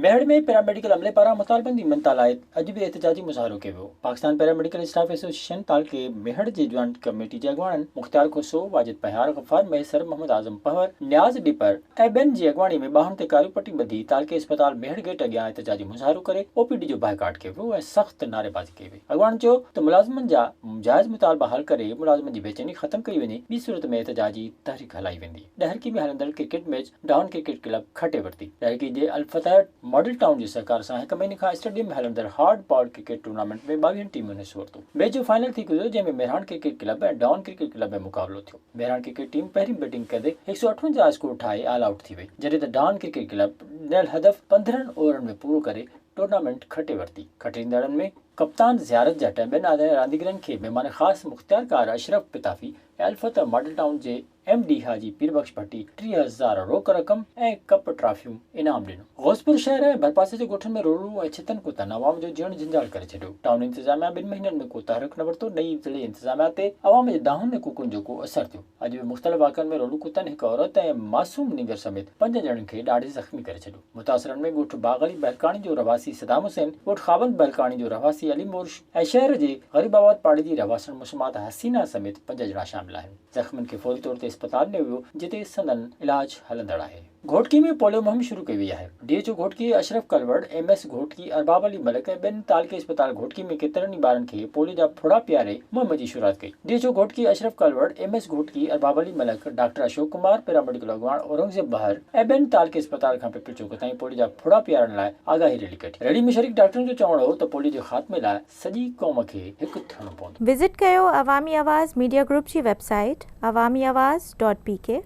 Mehar ۾ paramedical عملي پاران مطالبن جي مڃتا لاء اڄ به احتجاجي مظاهرو ڪيو ويو، پاڪستان پيراميڊيڪل اسٽاف ايسوسيئيشن تعلقي ميهڙ جي جوائنٽ ڪميٽي جي اڳواڻن مختيار کوسو، واجد پهيار، غفار مهيسر، محمد اعظم پنهور، نياز ڏيپر ۽ ٻين جي اڳواڻي ۾ ٻانهن تي ڪاريون پٽي ٻڌي تعلقي اسپتال ميهڙ گيٽ اڳيان احتجاجي مظاهرو ڪري او پي ڊي جو بائيڪاٽ ڪيو ويو ۽ سخت نعريبازي ڪئي وئي. اڳواڻن چيو ته ملازمن جا جائز مطالبا حل ڪري ملازمن جي بيچيني ختم ڪئي وڃي ٻي صورت ۾ احتجاجي تحريڪ هلائي ويندي. ڏهرڪي ۾ هلندڙ cricket match down cricket club کٽي ورتي. ڏهرڪي جي الفتح ماڊل ٽائون جي سهڪار سان هڪ مهيني کان اسٽيڊيم ۾ هلندڙ هارڊ بال ڪرڪيٽ ٽورنامينٽ ۾ ٻاويهن ٽيمن حصو ورتو. ميچ جو فائنل ٿي گذريو جنهن ۾ Mehran cricket club ۽ down cricket club ۾ مقابلو ٿيو. مهراڻ ڪرڪيٽ ٽيم پهرين بيٽنگ ڪندي هڪ سؤ اٺونجاهه اسڪور ٺاهي آل آئوٽ ٿي وئي جڏهن ته ڊائون ڪرڪيٽ ڪلب ڏنل هدف پندرهن اوورن ۾ پورو ڪري ٽورنامينٽ کٽي ورتي، کٽيندڙن ۾ ڪپتان زيارت جٽ، ٻين آزاد رانديگرن کي مھمان خاص مختيارڪار اشرف پتافي ۽ الفتح ماڊل ٽائون جي ايم ڊي حاجي پيربخش ڀٽي ٽيهه هزار روڪ رقم ۽ ڪپ ٽرافيون انعام ڏنو. غوثپور شهر ۽ ڀرپاسي جي ڳوٺن ۾ روڙون ۽ ڇتن ڪوتن عوام جو جيئڻ جھنجھال ڪري ڇڏيو، ٽائون انتظاميا ٻن مھينن ۾ ڪو تحرڪ نه ورتو، نئين ضلعي انتظاميا تي عوام جي دانھن ۽ ڪوڪن جو ڪو اثر ٿيو، اڄ به مختلف واقعن ۾ روڙون ڪتن هڪ عورت ۽ معصوم نينگر سميت پنجن ڄڻن کي ڏاڙھي زخمي ڪري ڇڏيو. متاثرن ۾ ڳوٺ باغ علي بهلڪاڻي جو رهواسي صدام حسين، ڳوٺ خاوند بهلڪاڻي جو رهواسي علي مورش ۽ شهر جي غريب آباد پاڙي جي رهواسڻ مسمات حسينه سميت پنج ڄڻا شامل آهن. زخمين کي فوري طور تي اسپتال نيو ويو جتي سندن علاج هلندڙ آهي. گهوٽڪي ۾ پوليو مهم شروع ڪئي وئي آهي، D H O Ghotki Ashraf Kalor, M S Ghotki Arbab Ali Malik ۽ ٻين تعلقي اسپتال گهوٽڪي ۾ ڪيترن ئي ٻارن کي پوليو جا ڦڙا پياري مهم جي شروعات ڪئي. ڊي جو Ghotki Ashraf Kalor, M S Ghotki, Arbab Ali Malik, doctor Ashok Kumar, paramedical اڳواڻ اورنگزيب بحر ۽ ٻين تعلقي اسپتال کان پپل چوڪ تائين پوليو جا ڦڙا پيارڻ لاء آگاهي ريلي ڪڍي. ريلي ۾ شريڪ ڊاڪٽرن جو چوڻ هو ته پوليو جي خاتمي لاء سڄي قوم کي هڪ ٿيڻو پوندو. وزٽ ڪيو عوامي آواز ميڊيا گروپ جي website Awami Awaz dot P ڪي.